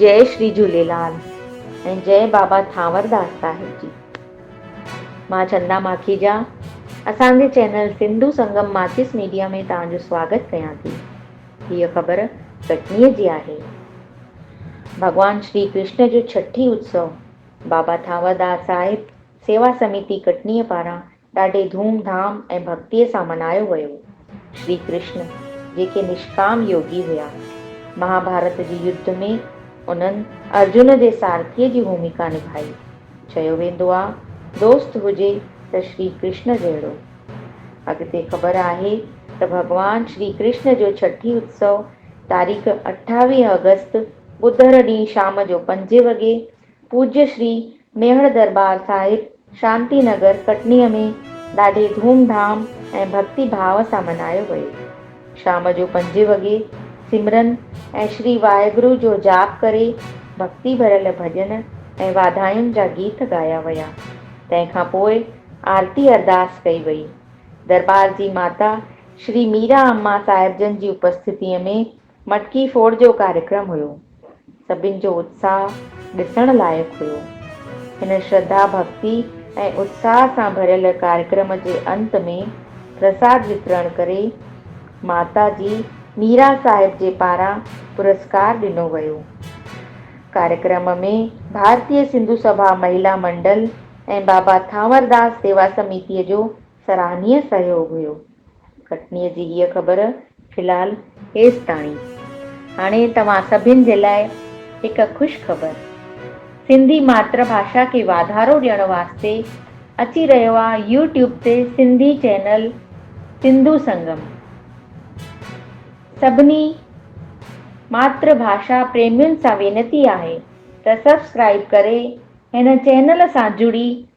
جئي شري جهوليلال ۽ جئي بابا ٿانور داس صاحب جي. مان چندا ماکيجا اسان جي چينل سنڌو سنگم ماٿيس ميڊيا ۾ توهان جو سواگت ڪيان ٿي. هيء خبر ڪٽنيء جي آهي. ڀڳوان شري ڪرشن جو ڇٺي اتسو بابا ٿانور داس صاحب سيوا سميتي ڪٽنيء پاران ڏاڍي ڌوم ڌام ۽ ڀڳتيء سان منايو ويو. شري ڪرشن جيڪي نشڪام يوگي هيا، مهاڀارت جي يڌ ۾ انهن ارجن جي سارٿيء جي ڀوميڪا نڀائي. چيو ويندو آ دوست هجي ته شري ڪرشن جهڙو. اڳتي خبر آهي ته ڀڳوان شري ڪرشن جو ڇٺي اتسو تاريخ اٺاويهه آگسٽ ٻڌر ڏينهن شام جو پنجين وڳي پوڄيا شري ميهڙ درٻار صاحب شانتي نگر ڪٽنيء ۾ ڏاڍي ڌوم ڌام ۽ ڀڳتي ڀاء سان منايو ويو. شام جو پنجين وڳي سمرن ۽ شري واهيگرو جو جاپ ڪري ڀڳتي ڀريل ڀڄن ۽ واڌاين جا گيت ڳايا ويا. تنهن کان پوء آرتي ارداس ڪئي وئي. درٻار جي ماتا شري ميرا اما صاحبجن جي اپسٿتيء ۾ مٽڪي ڦوڙ جو ڪاريڪرم هيو. سڀن جو اتساهه ڏسڻ لائق هيو. هن شرڌا ڀڪتي ۽ اتساهه سان ڀريل ڪاريڪرم جي انت ۾ پرساد وترڻ ڪري ماتا جي ميرا صاحب جي پاران پرسڪار ڏنو ويو. ڪاريڪرم ۾ ڀارتي سنڌو سڀا مهيلا منڊل ۽ بابا ٿانور داس سيوا سميتي جو سراهنيء سهيوڳ هيو. ڪٽنيء جي هيء خبر فلحال هيستاڻي. هاڻي توهان سڀن جي لاء هڪ خوش خبر. سنڌي ماتر ڀاشا کي واڌارو ڏيڻ واسطي اچي رهيو آ يو ٽيوب تي سنڌي چينل سنڌو سنگم. سڀني ماتر ڀاشا پريمين سان وينتي آهي ته سبسڪرائيب ڪري هن چينل سان جڙي